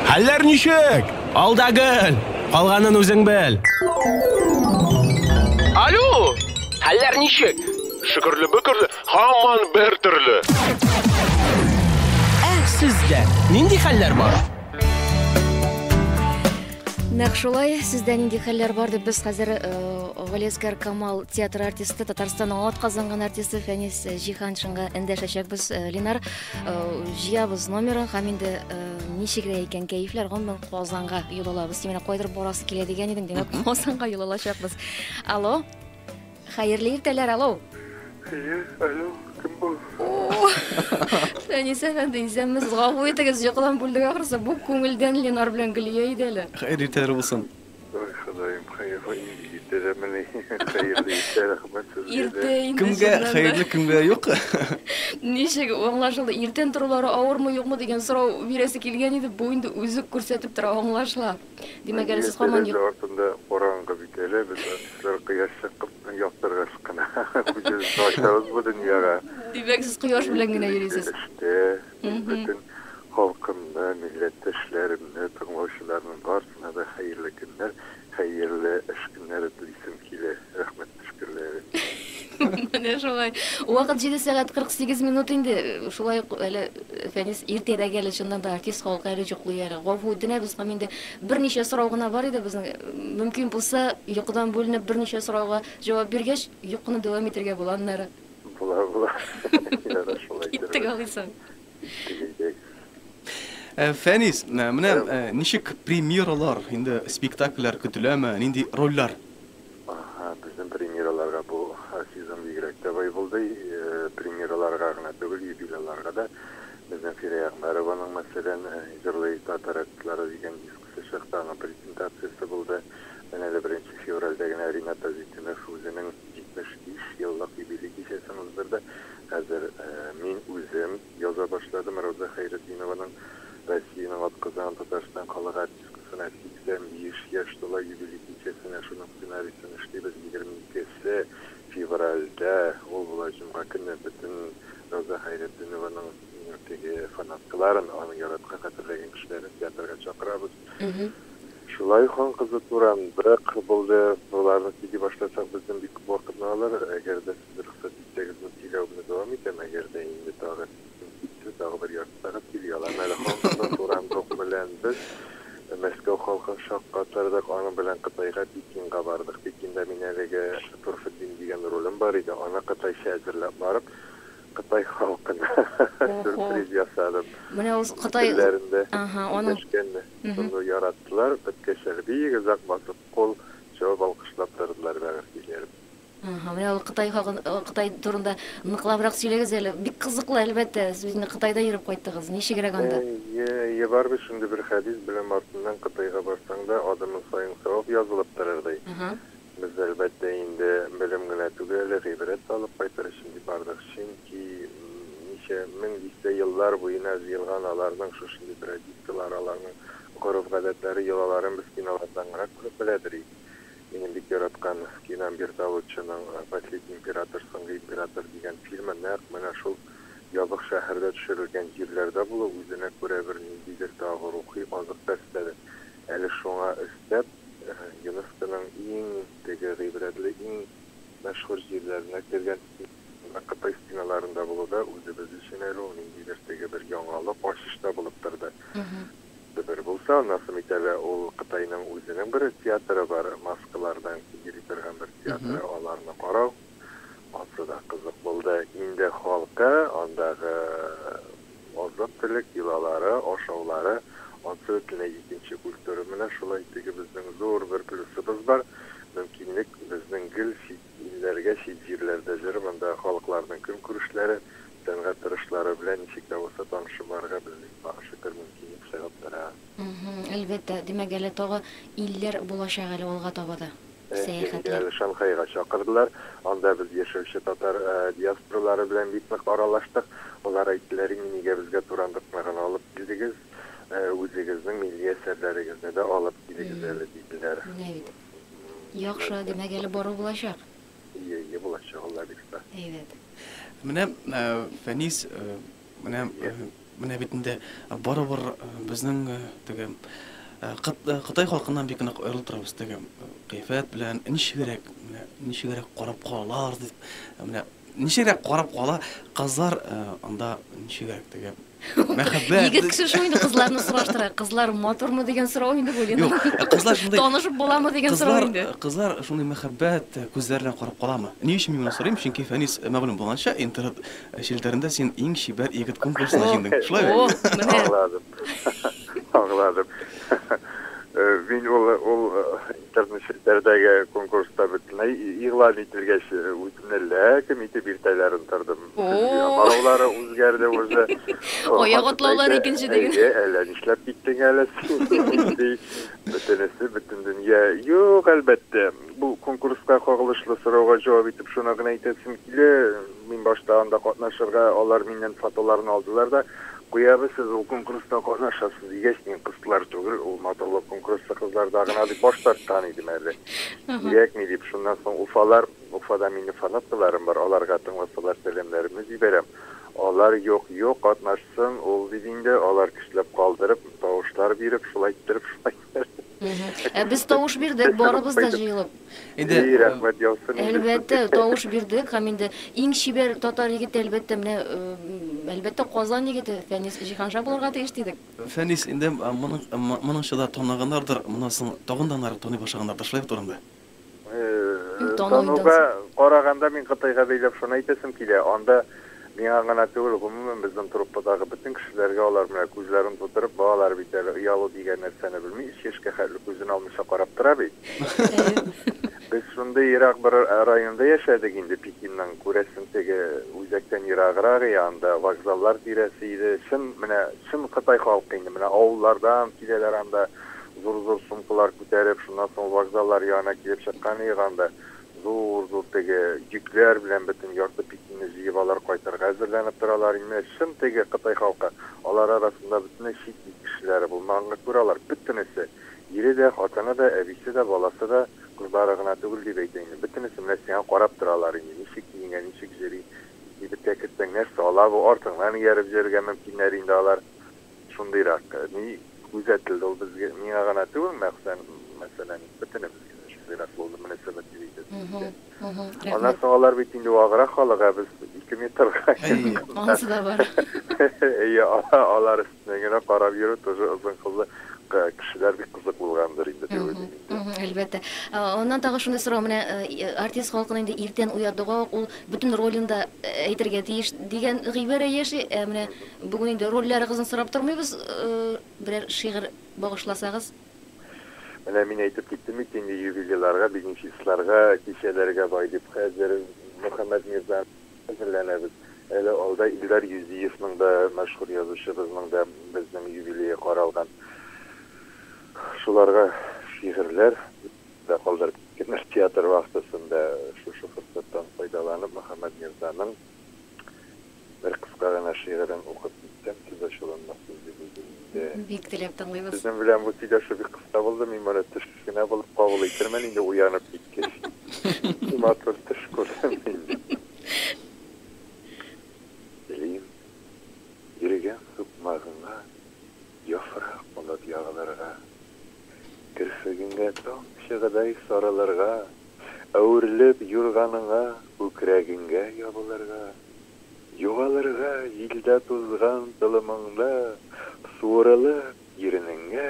Хәлләр ничек? Алда гел! Калганын үзең бел! Алло! Хәлләр ничек? Шөкерле-бөкерле, һаман бер төрле! Ә сездә нинди хәлләр бар? Нәкъ шулай, сездә нинди хәлләр бар дип без хәзер Галиәскәр Камал театр артисты, Татарстанның атказанган артисты Фәнис Җиһаншинга эндәшәчәкбез, Линар. җыябыз номерын һәм инде ничек тә икән кәефләр гомумән казанга юл алабыз син менә кайдыр барасы килә дигән идең димәк казанга юл алачакбыз алло хәерле иртәләр алло әйе алло кем бу фәнис әфәнде исәнмесез гафу итегез йокыдан бүлдек ахрысы бу күңелдән ленар белән гөлия иде әле хәерле иртәләр булсын Ой, Ходаем, хәерле иртә дәмени? Хәерле иртә, рәхмәт сезгә дә. Иртә инде, Кемгә чыннан да. хәерле, кемгә юк. Ничек аңлашылды? Иртән торулары авырмы, юкмы дигән сорау бирәсе килгән иде, бу инде үзе күрсәтеп тора, аңлашыла. Димәк, әле сез һаман Тәрәзә артында караңгы бит әле, без артистлар кояш чыккып яктыргач кына күзебезне ачабыз бу дөньяга. Димәк, сез кояш белән генә йөрисез. Эштә, Мин Мгм. бөтен халкымны, милләттәшләремне, тыңлаучыларның барсына да хәерле көннәр, хәерле эш көннәре телисем килә. Рәхмәт төшкерләре. Менә шулай. Вакыт 7 сәгать 48 минут инде. Шулай ук әле Фәнис иртәрәк әле чыннан да артист халкы әле йоклый әле. Гафу үтенәбез һәм инде берничә сорау гына бар иде безнең. Мөмкин булса, йокыдан бүленеп берничә сорауга җавап биргәч, йокыны дәвам итәргә була аннары. Була, була. Ярар, шулай иттерербез. Киттек алыйсың. Киттек, әйдәгез. Э, Фәнис, э, менә э, ничек премьералар, инде спектакльләр көтеләме, нинди рольләр? Ага, безнең премьераларга бу э, сезон бигрәк тә бай булды. Э, Премьераларга гына түгел, юбилейларга да. Безнең Фирә Ягъмәрованың, мәсәлән, э, Җырлый татар әткилары дигән диск Чыгыш тагын презентациясе булды. Менә әле беренче февральдә генә Ринат Азитдинов үзенең 75 еллык юбилей кичәсен уздырды. Хәзер мин үзем яза башладым Рауза Хәйретдинованың Россиянең атказанган Татарстан халык артисткасына 85 яшь тула юбилей кичәсенә шуның сценарийсын эшлибез 22 се февральдә, ул була җомга көне, бөтен Рауза Хәйретдинованың. Теге фанаткаларын, аны яраткан, хәтерләгән кешеләрне театрга чакырабыз. Шулай хан-кызлы туран бер кыр булды. Боларны сөйли башласак, бездән бик күп вакытны алыр. Әгәр дә сез рөхсәт итсәгез, мин сөйләү генә дәвам итәм, әгәр дә инде тагы син китсен, тагы бер ярты сәгать сөйли алам әле. Хан-кызлы туран рухы белән без Мәскәү халкын шаккатырдык, аның белән Кытайга, Пекинга бардык. Пекинда мин әлеге Торфетдин дигән ролем бар иде, аны кытайча әзерләп барып, Кытай халкына сюрприз ясадым. Менә ул Кытай телләрендә сөйләшкән шуны яраттылар, беткәчләре бик озак басып кул чабып алкышлап тордылар бәгырь көйләрен. Әһә, менә ул Кытай хакын, Кытай турында ныклабрак сөйләгез әле, бик кызыклы әлбәттә, сез инде Кытайда йөреп кайттыгыз, ничегрәк анда? Әйе, бар бит шундый бер хәдис, беләм, артыннан Кытайга барсаң да, адымың саен савап язылып торыр, ди. Без, әлбәттә, инде белем генә түгел, гыйбрәт тә алып кайтыр өчен дип бардык. Чөнки ничә мең дистә еллар буена җыелган аларның шушындый традицияләре, аларның гореф-гадәтләре, йолаларын без кинолардан гына күреп беләдер идек. Минем бик яраткан кином Бертолуччоның Последний император, Соңгы император, дигән фильмы нәкъ менә шул ябык шәһәрдә төшерелгән җирләрдә булу үзенә күрә бер ниндидер тагы рухи азык та өстәде. Әле шуңа өстәп, ЮНЕСКОның иң теге гыйбрәтле, иң мәшһүр җирләренә кергән стеналар, Кытай стеналарында булу да үзебез өчен әле ул ниндидер теге бер яңалык, ачыш та булып торды. Бер булса, аннан соң бит әле ул Кытайның үзенең бер театры бар, маскалардан йөри торган бер театры, аларны карау, ансы да кызык булды. Инде халкы, андагы, Азык-төлек йолалары, ашаулары, ансы бөтенләй икенче культура. Менә шулай теге безнең зур бер плюсыбыз бар, мөмкинлек безнең гел чит илләргә, чит җирләрдә җырып, андагы халыкларның көнкүрешләре, сәнгать торышлары белән ничек тә булса танышып барырга безнең тагы шөкер мөмкинлек чыгып тора. Мһм, әлбәттә, димәк әле тагы илләр булачак әле алга таба да. сәяхәте. Әле Шанхайга чакырдылар. Анда без яшәүче татар диаспоралары белән бик нык аралаштык. Алар әйттеләр, Инде нигә безгә Турандыкны гына алып килдегез, үзегезнең милли әсәрләрегезне дә алып килегез әле, диделәр. Менә бит. Яхшы, димәк, әле бару булачак. Ие, ие булачак, Аллабирса. Әйбәт. Менә Фәнис Менә, менә бит инде барыбер безнең теге Кытай халкыннан бик нык аерылып торабыз теге кыйфәт белән ничегрәк, менә ничегрәк карап калалар дип, менә ничегрәк карап кала кызлар анда ничегрәк теге мәхәббәт. Егет кеше шул инде кызларны сораштыра. Кызлар матурмы дигән сорау инде бу Лена. Юк, кызлар шундый. Танышып буламы дигән сорау инде. Кызлар шундый мәхәббәт күзләр белән карап каламы? Ни өчен мин моны сорыйм? Чөнки Фәнис мәгълүм булганча интернет Ә челтәрендә син иң чибәр егет конкурсына җиңдең. Шулай бит? Ох, менә. Аңладым. Аңладым. Мин ул ул интернет челтәрдәге конкурста бөтенләй игълан ителгәч, үземне ләкем итеп иртәләрен тордым. Караулары үзгәрде уже. Аяк атлаулар икенче диген. Әйе, әллә нишләп киттең әле син? Бөтенесе, бөтен дөнья. Юк, әлбәттә. Бу конкурска кагылышлы сорауга җавап итеп шуны гына әйтәсем килә, мин башта анда катнашырга, алар миннән фотоларны алдылар да, Куябыз, сез ул конкурста катнашасыз, дигәч, мин кызлар түгел, ул матурлык конкурсы кызларда гына дип баш тарткан идем әле. Кирәкми дип, шуннан соң Уфалар, Уфада минем фанаткаларым бар, аларга тыңласалар сәламнәремне җибәрәм, алар юк, юк, катнашсын ул, дип инде, алар көчләп калдырып, тавышлар биреп, шулай иттереп, шулай Ә без тавыш бирдек, барыбыз да җыелып. Инде И, рәхмәт яусын. Әлбәттә, тавыш бирдек һәм инде иң чибәр татар егете әлбәттә менә әлбәттә Казан егете Фәнис Җиһанша булырга тиеш дидек. Фәнис, инде моның моның чада таныганнардыр, моннан соң тагын да ныграк таный башлаганнардыр, шулай бит ул инде. Тануга караганда, мин Кытайга бәйләп шуны әйтәсем килә, анда миңа гына түгел, гомумән безнең труппадагы бөтен кешеләргә алар менә күзләрен тутырып, балалар бит әле, оялу дигән нәрсәне белми, өч яшькә хәтле күзен алмыйча карап тора бит. Без шундый ерак бер районда яшәдек инде, Пекинның, күрәсең, теге үзәктән ераграк и анда вокзаллар тирәсе иде, чын, менә чын кытай халкы инде, менә авыллардан киләләр анда, зур-зур сумкалар күтәреп, шуннан соң вокзаллар ягына килеп чыккан идек анда. Зур-зур теге йөкләр белән бөтен ярты Пекинне җыеп алар кайтырга әзерләнеп торалар иде. Менә чын теге кытай халкы. Алар арасында бөтенләй чит ил кешеләре булмаганга күрә алар бөтенесе, ире дә, хатыны да, әбисе дә, баласы да, кызлары гына түгел дип әйтә инде, бөтенесе менә сиңа карап торалар инде, ничек киенгән, ничек җөри, кибеткә керсәң нәрсә ала бу, артыңнан ияреп җөрергә мөмкиннәр инде алар. шундыйрак ни күзәтелде, ул безгә, миңа гына түгел, мәхсән, мәсәлән, бөтенебезгә шундыйрак булды, менә сәбәп дип әйтәсез. Аннан соң алар бит инде ваграк халык, ә без ике метрга Анысы да бар. Әйе, алар өстенә генә карап йөрү тоже озын кызлы кешеләр бик кызык булгандыр инде дип уйлыйм инде. Әлбәттә. Аннан тагы шуны сорау, менә артист халкын инде иртән уятуга ук ул бөтен ролен да әйтергә тиеш дигән гыйбарә яши, ә менә Бүген инде рольләрыгызны сорап тормыйбыз, берәр шигырь багышласагыз. Менә мин әйтеп киттем бит инде, юбилейларга, бенефисларга, кичәләргә бай дип. Хәзер Мөхәммәт Мирза әзерләнәбез. Әле алда Илдар Юзиевның да, мәшһүр язучыбызның да безнең юбилее каралган. Шуларга шигырьләр дә калдырып киткәннәр театр вахтасында. Шушы форсаттан файдаланып, Мөхәммәт Мирзаның. Бер кыска гына шигырен укып китсәм, сүз ачуланмасын дип уйлыйм инде. Бик теләп тыңлыйбыз. Сезнең белән бу сөйләшү бик кыска булды, мин моны төш кенә булып кабул итермен инде, уянып киткәч. Нинди матур төш күрдем мин! Телим, йөргән сукмагыңа яфрак булып ягылырга, керфегеңә таң чыгыдай сарылырга. Әверелеп юрганыңа, күкрәгеңгә ябылырга, Югалырга җилдә тузган толымыңда, Суырылып иренеңә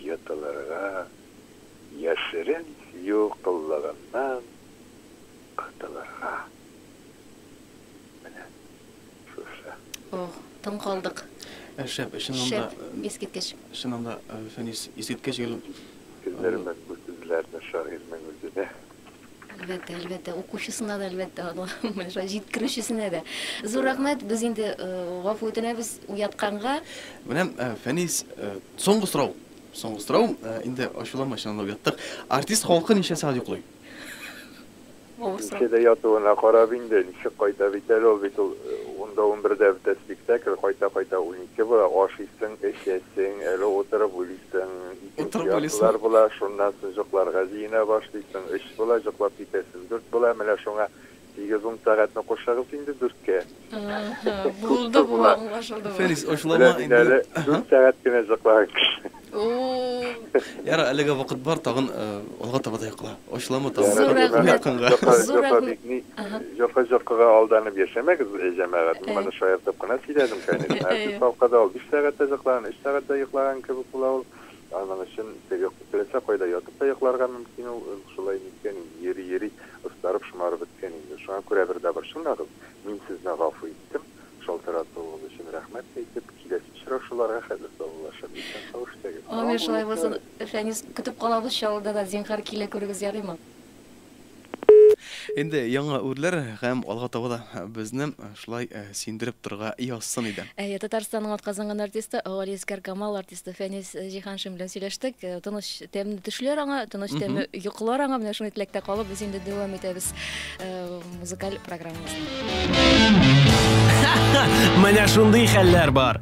йотылырга, Яшерен сөю коллыгыннан котылырга. Менә. Шушы. Ох, тын калдык. Ә шәп, чыннан да. Шәп, искиткеч. Чыннан да, Фәнис, искиткеч гел. Сиздерермен бу сүзләрне шагыйрьнең үзенә. Әлбәттә, әлбәттә, укучысына да, әлбәттә, аңламый, шулай җиткерүчесенә дә. Зур рәхмәт, без инде гафу үтенәбез уятканга. Менә, Фәнис, соңгы сорау. Соңгы сорау, инде ачуланма, чыннан да уяттык. Артист халкы ничә сәгать йоклый? Авыр сорау. Эче дә ятуына карап инде, ничек кайта бит әле ул, бит ул унда-унбердә бетә спектакль, кайта-кайта унике була, ашыйсың, эчәсең, әле утырып уйлыйсың, икенче яртылар була, шуннан соң җокларга җыена башлыйсың, өч була, җоклап китәсең, дүрт була, менә шуңа Тигез ун сәгатьне кушыгыз инде дүрткә. Ага, булды бу, аңлашылды бу. Фәнис, ачуланма инде. Беләм мин әле, дүрт сәгать кенә җыклар кеше. Уууу. Ярар, әлегә вакыт бар, тагын алга таба да йокла. Ачуланма тагын. Зур рәхмәт. Зур рәхмәт. Җока җокыга алданып яшәмәгез, җәмәгать. Мин моны шаяртып кына сөйләдем, конечно. Ә сез калкыда ул биш сәгать тә җыклаган, өч сәгать тә йоклаган кебек була ул. Аның өчен теге теләсә кайда ятып та йокларга мөмкин ул, шулай ниткән инде, йөри-йөри остарып, шомарып беткән инде. Шуңа күрә бер дабыр чыңлагыз, мин сезне гафу иттем, шалтыратуыгыз өчен рәхмәт әйтеп, киләсе очрашуларга хәзер саулашып, исән сау эшләгез. Амин, шулай булсын, Фәнис, көтеп калабыз Чаллыда да, зинһар килә күрегез, ярыймы? Инде яңа үрләр һәм алга таба да безне шулай сөендереп торырга язсын иде. Әйе, Татарстанның атказанган артисты, Галиәсгар Камал артисты Фәнис Җиһаншин белән сөйләштек. Тыныч, тәмле төшләр аңа, тыныч, тәмле йокылар аңа. Менә шундый теләктә калып, без инде дәвам итәбез музыкаль программабызны. Менә шундый хәлләр бар.